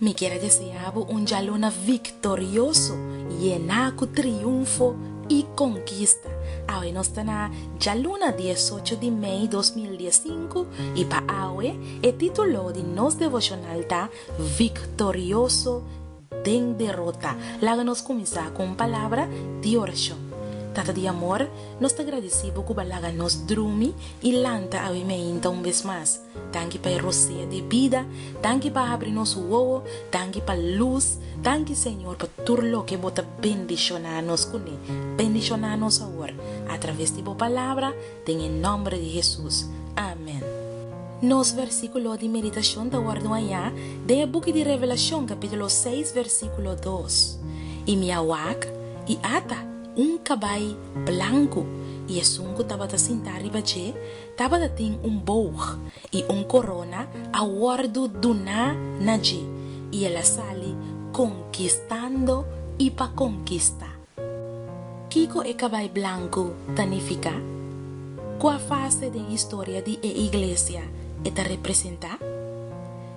Mi kier a deseá bo un djaluna viktorioso, yená ku triunfo i konkista. Awe nos ta na djaluna di es ocho di mei dos mil dies sinku, i pa awe e título di nos devoshonal ta Viktorioso den derota. Laga nos kuminsá ku un palabra di orashon. Tata di amor, nos ta gradisí bo ku bo a laga nos drumi i lanta awe mainta un bes mas. Tanki pa e rosea di bida, tanki pa habri nos wowo, tanki pa lus, tanki Señor pa tur loke bo ta bendishona nos kuné, bendishona nos awor atraves di bo palabra den e nomber di Hesus. Amen. Nos versikulo di meditashon ta wordu hañá den e buki di Revelashon kapítulo seis versikulo dos, I mi a wak, i ata un kabai blanku, i esun ku tabata sintá riba dje Tabata tin un boog i un korona a wòrdu duná na dje, i el a sali konkistando i pa konkistá. Kiko e kabai blanku ta nifiká? Kua fase den historia di e iglesia e ta representá?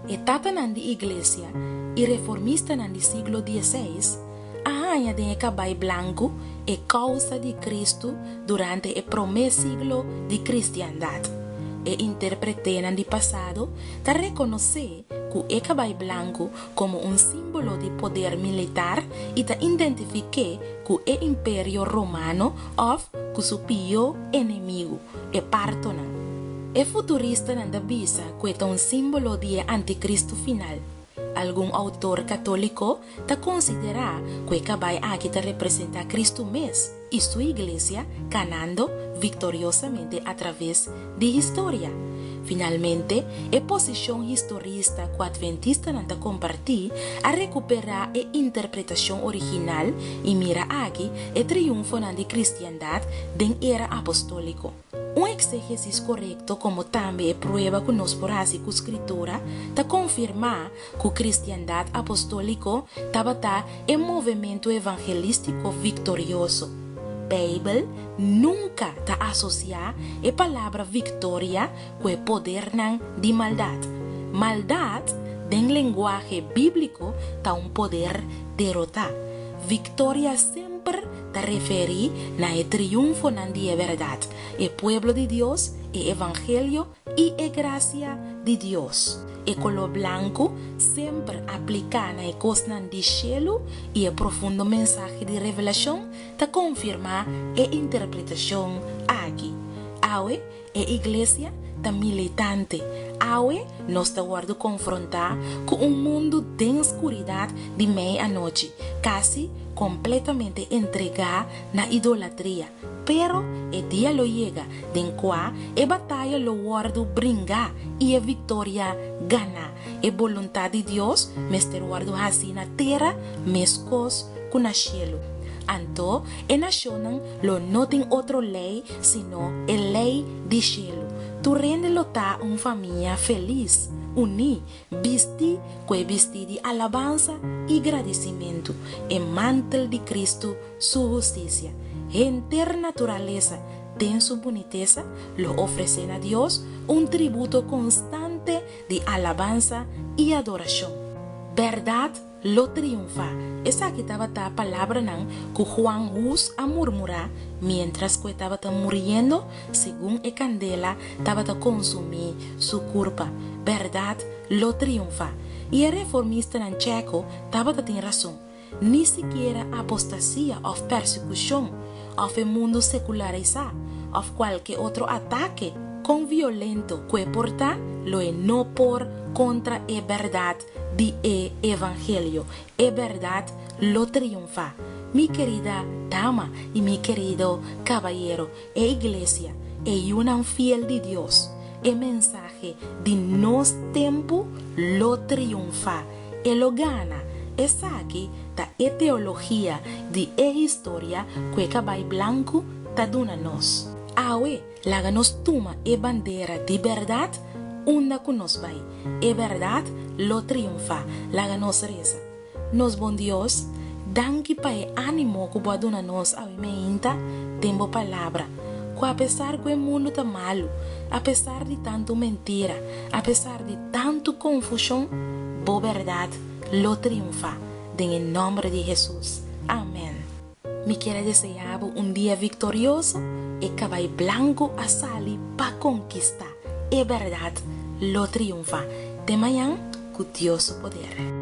E tatanan di Iglesia i reformistanan di siglo diezseis a haña den e kabai blanku e kousa di Kristu durante e promé siglo di kristiandat. E interpreténan di pasado ta rekonosé ku e kabai blanku komo un símbolo di poder militar i ta identifiké ku e Imperio Romano òf ku su pió enemigu, e Pártonan. E futuristanan ta bisa ku e ta un símbolo di e antikristu final. Algun outor katóliko ta konsiderá ku e kabai aki ta representá Kristu mes i Su Iglesia kanando viktoriosamente atraves di historia. Finalmente, e posishon historista ku adventistanan ta kompartí a rekuperá e interpretashon original i mira aki e triunfonan di kristiandat den era apostóliko. Un eksegesis korekto komo tambe e prueba ku nos por hasi ku Skritura ta konfirmá ku Kristiandat Apostòliko tabata e movementu evangelístiko viktorioso. Beibel nunka ta asosiá e palabra viktoria ku e podernan di maldat. Maldat, den lenguahe bíbliko, ta un poder derotá. Viktoria semper ta referí na e triunfonan di e bèrdat, e pueblo di Dios, e evangelio i e grasia di Dios. E koló blanku semper apliká na e kosnan di shelu i e profundo mensahe di Revelashon ta konfirmá e interpretashon aki. Awe E iglesia ta militante. Awe nos ta wòrdu konfrontá ku un mundu den skuridat di mei anochi, kasi kompletamente entregá na idolatria. Pero e dia lo yega den kua e bataya lo wòrdu bringá i e viktoria ganá. E boluntat di Dios mester wòrdu hasi na tera meskos ku na shelu. Anto e nashonnan Lo no tin otro ley sino e ley di shelu. Tur hende lo ta un famia felis, uní, bistí ku e bistí di alabansa i gradisimentu, e mantel di Kristu su hustisia. Henter naturalesa, den su bunitesa, lo ofresé na Dios un tributo konstante di alabansa i adorashon. Bèrdat? lo triunfa. Esaki tabata palabranan ku Juan Hus a murmurá miéntras ku e tabata muriendo segun e kandela tabata konsumí su kurpa. Bèrdat lo triunfa! I e reformistanan Tsjeko tabata tin rason. Ni sikiera apostasia òf persekushon òf e mundu sekularisá òf kualke otro atake kon violento ku e portá lo e no por kontra e bèrdat. di e evangelio, e berdad lo triunfa. Mi kerida dama i mi kerido kabayero, e iglesia, e yunan fiel di Dios, e mensahe di nos tempu lo triunfa, e lo gana. Esaki ta e teologia di e historia ku e kabay blanku ta duna nos. Awe, Laga nos tuma e bandera di bèrdat unda ku nos bai. E bèrdat lo triunfá. Laga nos resa. Nos bon Dios, danki pa e ánimo ku bo a duna nos awe mainta den bo Palabra, ku apesar ku e mundu ta malu, apesar di tantu mentira, apesar di tantu konfushon, bo bèrdat lo triunfá. Den e nòmber di Hesus. Amèn. Mi kier a deseá bo un dia viktorioso, e kabai blanku a sali pa konkistá, e bèrdat lo triunfá. Te mañan ku Dios su poder.